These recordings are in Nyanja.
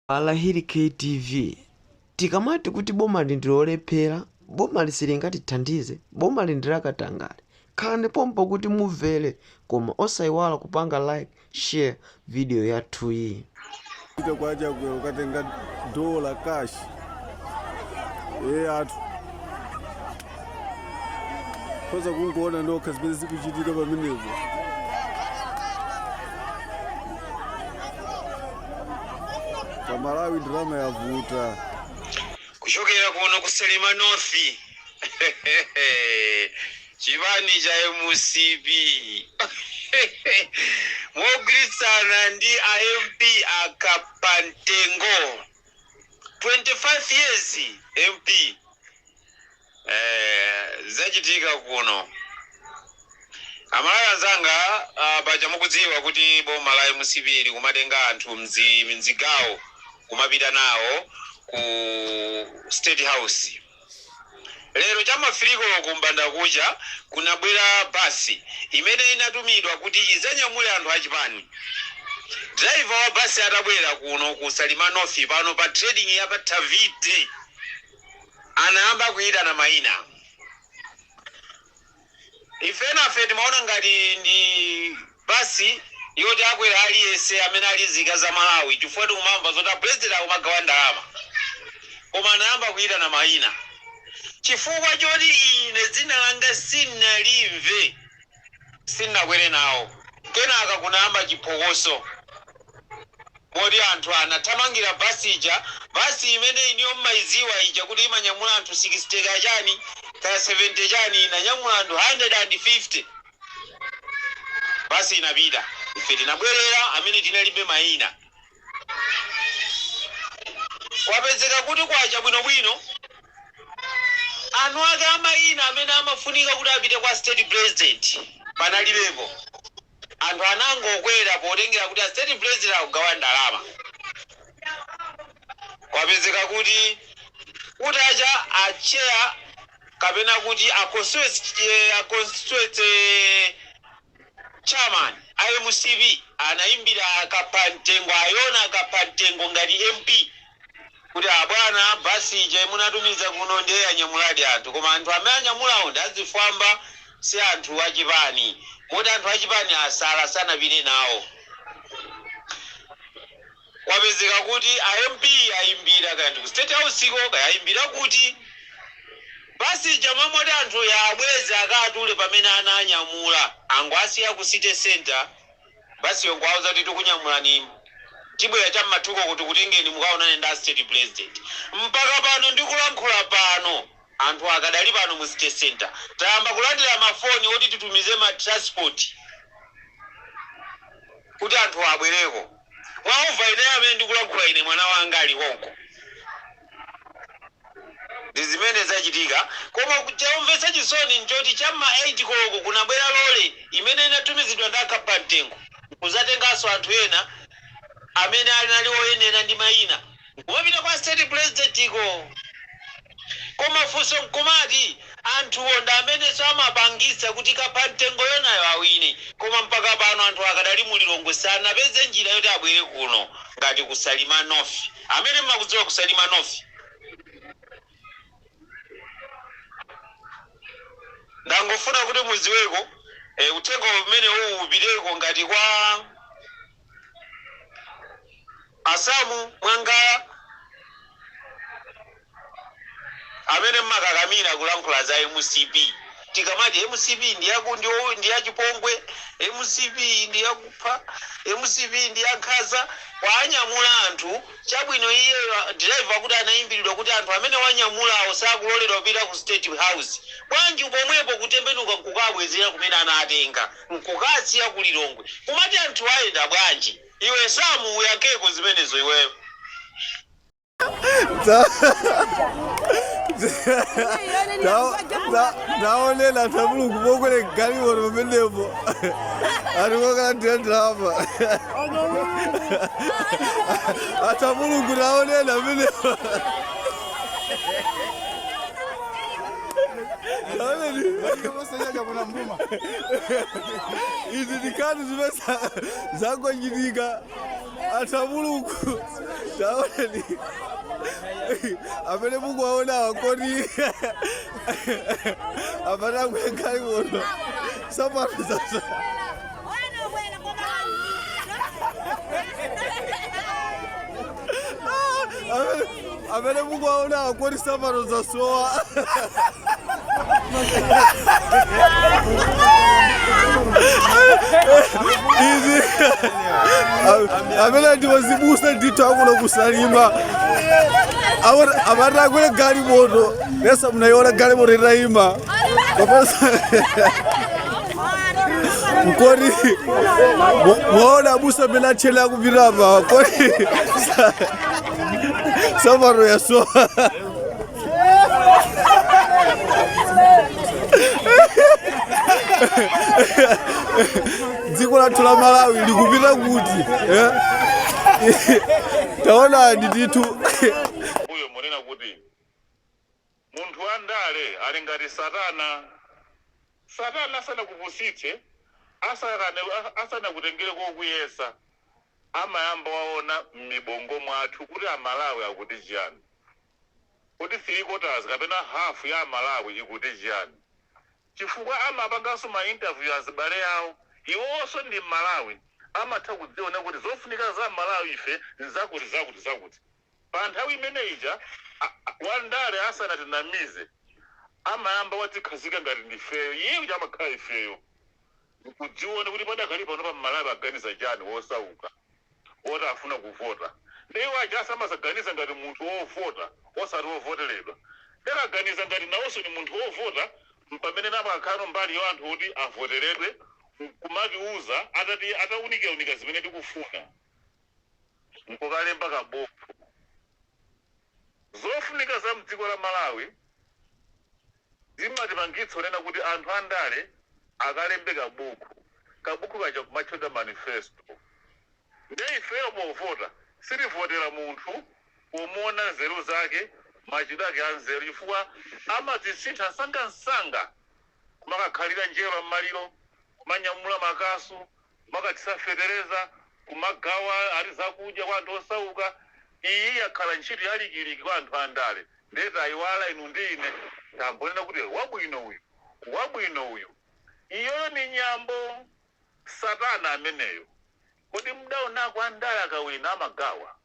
Alahiri kt V tikamati kuti boma ili ndi lolephera boma ili silingatithandize boma ili ndi lakatangale khalani pompo kuti mumvere koma osaiwala kupanga like share video yathuyi. Kwacha ukatenga dollar cash eyatu. khoza kungoona nokha zimene zikuchitika pamenepo pamalawi ndalama yavuta kuchokera kuno ku salima north chipani cha mcp mogwirizana ndi a mp a Kaphamtengo 25 years mp eh, zachitika kuno amalawi anzanga ah, paja mukudziwa kuti boma la mcp likumatenga anthu m'zigawo kumapita nawo ku state house lero cha mmawa kumbanda kucha kunabwera basi imene inatumidwa kuti idzanyamule anthu achipani driver wa basi atabwera kuno ku salima north pano pa trading ya pa Thavite anayamba kuyitana mayina. Ife enafe timaona ngati ndi bus yoti akwera aliyense amene ali nzika ya Malawi chifukwa tikumamva zoti a president akumagawa ndalama. Koma anayamba kuyitana mayina chifukwa choti ine dzina langa sinalimve. sinakwere nawo. Kenaka kunayamba chiphokoso moti anthu anathamangira bus ija, bus imene inuyo mmaidziwa ija kuti imanyamula anthu 60 kaya chani kaya 70 chani inanyamula anthu 150. Bus inapita ife tinabwerera amene tinalibe maina Kwapezeka kuti kwacha bwinobwino eni ake a mayina amene amafunika kuti apite kwa State President panalibepo. Anthu anangokwera potengera kuti a State President akugawa ndalama. Kwapezeka kuti kutacha a Chair kapena kuti a Constituency. Chairman a mcp anaimbira a Kaphamtengo a Yona a Kaphamtengo ngati MP kuti abwana bus ija munatumiza kuno ndiye anyamuladi anthu koma anthu amene anyamulawo ndi azifwamba si anthu a chipani moti anthu a chipani asala sanapite nawo. Kwapezeka kuti a MP ayimbira kaya ndi ku state house ko kaya ayimbira kuti bus ija momwemo oti anthuwa abweze akatule pamene ananyamula angowasiya ku city centre bus yo nkuwauza kuti tikunyamulani tibwera cha m'ma 2 koloko tikutengeni mukaonane ndi a state president. Mpaka pano ndikulankhula pano anthuwa akadali pano mu city centre. Tayamba kulandira ma foni oti titumize ma transport kuti anthuwa abwereko. Mwaumva Ine amene ndikulankhula Ine, Mwana Wanga ali konko. Ndi zimene zachitika. Koma chomvetsa chisoni n'choti cha m'ma 8 koloko kunabwera lole imene inatumizidwa ndi a Kaphamtengo n'kudzatenganso anthu ena amene anali oyenera ndi mayina. Kumapita kwa state president ko koma funso mkumati anthuwo ndi amenenso amapangitsa kuti kaphamtengo yonayo awine koma mpaka pano anthu akadali mu Lilongwe sanapeze njira yoti abwere kuno ngati ku Salima north amene mmakudziwa ku Salima north ndangofuna kuti mudziweko uthenga umenewu upiteko ngati kwa a Samu Mwangawa amene mmakakamira kulankhula za mcp tikamati mcp ndiyachipongwe mcp ndiyakupha mcp ndiyankhaza kuwanyamula anthu chabwino iyeyo driver kuti anayimbilidwa kuti anthu amene wanyamulawo sakuloledwa kupita ku state house bwanji pomwepo kutembenuka nkukaabwezera kumene anaatenga Nkukaasiya ku Lilongwe kumati anthu ayenda bwanji? Iwe Sam uyankheko zimenezo iweyo. Taonani anthu amulungu kokwera galimoto pamenepo ati kokalandira ndalama anthu amulungu taonani pamenepo izi ndi nkhani zimene zangochitika anthu a mulungu taonani amene mukuwaonawa kodi amene akuyankhali kuno sapato zaza amene amene mukuwaona akoti sapato zasowa izi amene ndi azibusa ndithu akuno kusalima amati akwere galimoto nesa munayiona galimoto itayima pa koti mwaona abusa amene atchele akupita apa koti Sapato yasowa. dziko lathu la malawi likupita kuti eh? taonani ndithu Munthu wa ndale ali ngati satana. Satana asanakupusitse, asanakutengere kokuyesa, amayamba waona mmibongo mwathu kuti a Malawi akuti chiyani. Kodi three quarters kapena half ya a Malawi ikuti chiyani? Chifukwa amapanganso ma interview azibale awo, iwowonso ndi Mmalawi, amatha kudziona kuti zofunika za Malawi ife nzakuti, zakuti, zakuti. Pa nthawi imene ija a wandale asanatinamize amayamba wadzikhazika ngati ndifeyo iye uja amakhala ifeyo ndikudziona kuti padakali pano pa mmalawi akuganiza chani wosauka woti afuna kuvota nde iwo aja amadzaganiza ngati munthu wovota osati wovoteledwa nde akaganiza ngati nawonso ndi munthu wovota mpamene nawo akhalano mbali ya anthu woti avoteledwe nkumatiuza ataunikaunika zimene tikufuna nkukalemba ka bukhu. Zofunika za mdziko la Malawi zimatipangitsa kunena kuti anthu a ndale akalembe ka bukhu, ka bukhu kaja kumatchedwa manifesto. Nde ifeyo povota sitivotela munthu pomuona nzeru zake, machitidwe ake a nzeru chifukwa amadzisintha msangamsanga kumakakhalira njerwa mmaliro, kumanyamula makasu, kumakathira fetereza, kumagawa ati zakudya kwa anthu osauka. Iyi yakhala ntchito ya likiliki kwa anthu andale ndiye tayiwala inu ndi ine tangonena kuti wabwino uyu, wabwino uyu. Iyoyo ndi nyambo, satana ameneyo. Kodi mdaonako andale akawina amagawa?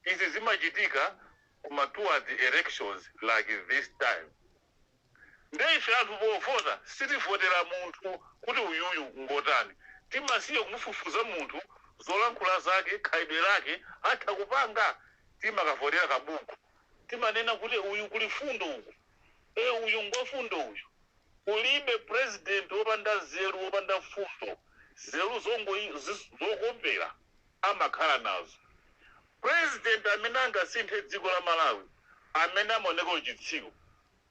Izi zimachitika kuma towards elections like this time. Nde ife anthu povota sitivotera munthu kuti uyuyu ngotani. Timasiya kumufufuza munthu zolankhula zake, khalidwe lake atha kupanga. Timakavotera kabuku. Timanena kuti uyu kuli fundo uku. Eeh uyu ngwafundo uyu. Kulibe president wopanda nzeru wopanda fundo. Nzeru zokopera amakhala nazo. President amene angasinthe dziko la Malawi amene amaoneka uchitsiru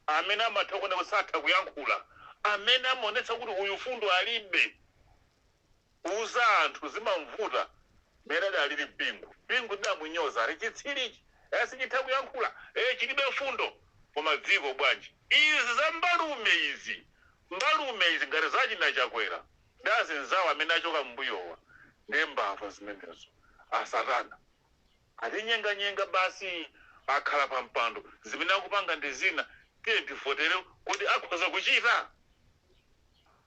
amene amatha kuoneka kuti satha kuyankhula, amene amaonetsa kuti uyu fundo alibe, kuuza anthu zimamvuta mmene adalili Bingu. Bingu tidamunyoza ati chitsiru ichi, e sichitha kuyankhula, e chilibe fundo, koma dziko bwanji? Izi za mbalume izi, mbalume izi ngati za achina Chakwera ndi anzawo amene achoka mmbuyowa, ndiye mbava zimenezo, asatana. Atinyenganyenga basi akhala pa mpando zimene akupanga ndi zina tiyeni tivotele kuti akhoza kuchita?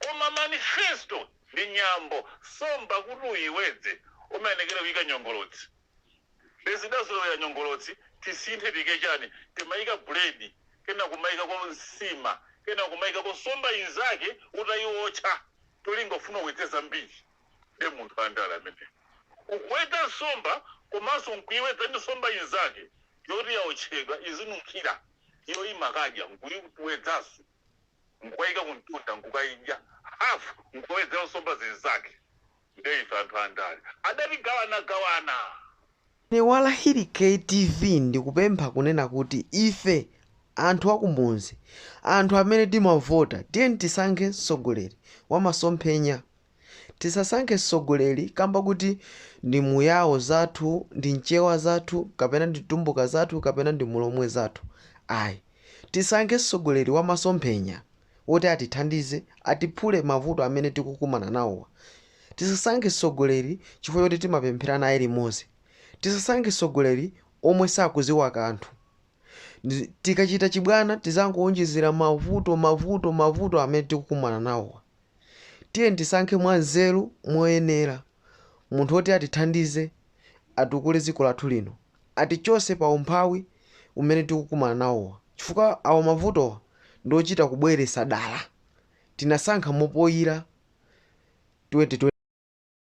Koma manifesto ndi nyambo somba kuti uyiwedze umayenekera kuyika nyongolotsi nde zidazolowera nyongolotsi tisinthe tiyike chani timayika bread kena kumayikako nsima kena kumayikako somba inzake utayiwotcha cholinga ufuna uwedze zambiri. Nde munthu wandale ameneyo. Kuwedza nsomba komanso nkuiwedza ndi nsomba inzake yoti yaotchedwa izinunkhira iyo imakadya nkuiwedzaso nkukaika kumtunda nkukaidya half nkukawedzera nsomba zinzake nde ife anthu andale adatigawanagawana. Ine wa Hiri KTV ndikupempha kunena kuti ife Anthu akumunzi, anthu amene timavota tiyeni tisankhe mtsogoleri wamasomphenya. Tisasankhe mtsogoleri kamba kuti ndi mu Yao zathu, ndi mchewa zathu, kapena ndi mtumbuka zathu kapena ndi mulomwe zathu ayi. Tisankhe mtsogoleri wamasomphenya. woti atithandize, atiphule mavuto amene tikukumana nawowa. Tisasankhe tsogoleri chifukwa choti timapemphera naye limodzi. Tisasankhe tsogoleri omwe sakudziwa kanthu. Tikachita chibwana tidzangowonjezera mavuto, mavuto, mavuto amene tikukumana nawowa. Tiyeni tisankhe mwanzeru, moyenera munthu woti atithandize, atukule dziko lathu lino. atichose pa umphawi umene tikukumana nawowa chifukwa awa mavutowa ndiochita kubweresa dala tinasankha mopoyila 2020.